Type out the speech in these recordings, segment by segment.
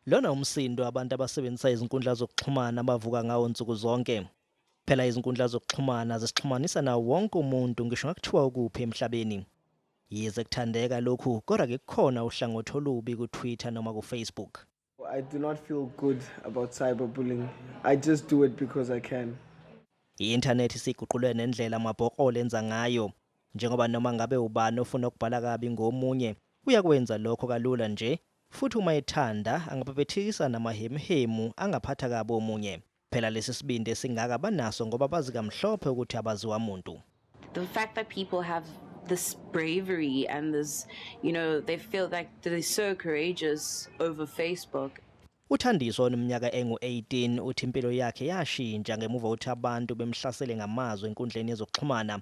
Lona umsindo abantu abasebenzisa izinkundla zokuxhumana abavuka ngawo nsuku zonke. Phela izinkundla zokuxhumana zisixhumanisa nawo wonke umuntu ngisho ngakuthiwa ukuphi emhlabeni. Yize kuthandeka lokhu kodwa ke kukhona uhlangothi olubi ku-Twitter noma ku-Facebook. I do not feel good about cyberbullying. I just do it because I can. I-inthanethi isiguqule nendlela amabhokole enza ngayo njengoba noma ngabe ubani ofuna ukubhala kabi ngomunye uyakwenza lokho kalula nje futhi uma ethanda angabhebhethikisa namahemhemu angaphatha kabi omunye. Phela lesi sibindi esingaka banaso ngoba bazi kamhlophe ukuthi abaziwa muntu. The fact that people have this bravery and this you know they feel like they're so courageous over Facebook Uthandiso oneminyaka engu-18 uthi impilo yakhe yashintsha ngemuva ukuthi abantu bemhlasele ngamazwi enkundleni yezokuxhumana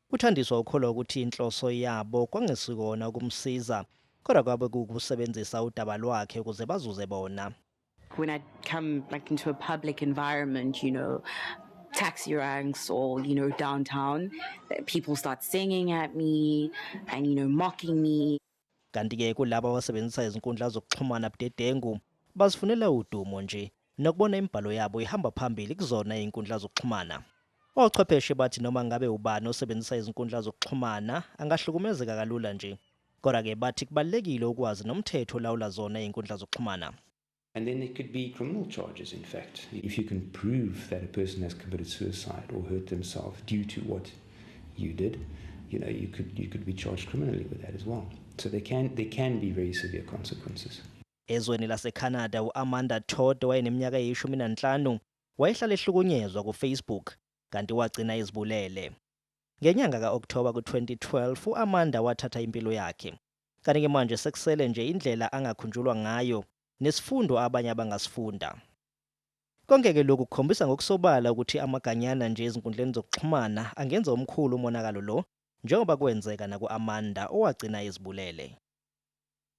UThandiswa ukholwa ukuthi inhloso yabo kwangesikona ukumsiza kodwa kwabe kuwukusebenzisa udaba lwakhe ukuze bazuze bona. When I come like into a public environment, you know, taxi ranks or you know downtown people start singing at me and you know mocking me Kanti-ke kulabo abasebenzisa izinkundla zokuxhumana budedengu, bazifunela udumo nje nokubona imibhalo yabo ihamba phambili kuzona izinkundla zokuxhumana. Ochwepheshe bathi noma ngabe ubani osebenzisa izinkundla zokuxhumana angahlukumezeka kalula nje. Kodwa-ke bathi kubalulekile ukwazi nomthetho olawula zona izinkundla zokuxhumana. And then there could be criminal charges, in fact. If you can prove that a person has committed suicide or hurt themselves due to what you did, you know, you could, you could be charged criminally with that as well. So there can, there can be very severe consequences. Ezweni laseCanada uAmanda Todd wayeneminyaka eyishumi nanhlanu wayehlala ehlukunyezwa kuFacebook kanti wagcina izibulele. Ngenyanga ka-Okthoba ku-2012 uAmanda wathatha impilo yakhe Kanti-ke manje sekusele nje indlela angakhunjulwa ngayo nesifundo abanye abangasifunda. Konke-ke lokhu kukhombisa ngokusobala ukuthi amaganyana nje ezinkundleni zokuxhumana angenza omkhulu umonakalo lo njengoba kwenzeka naku-Amanda owagcina ezibulele.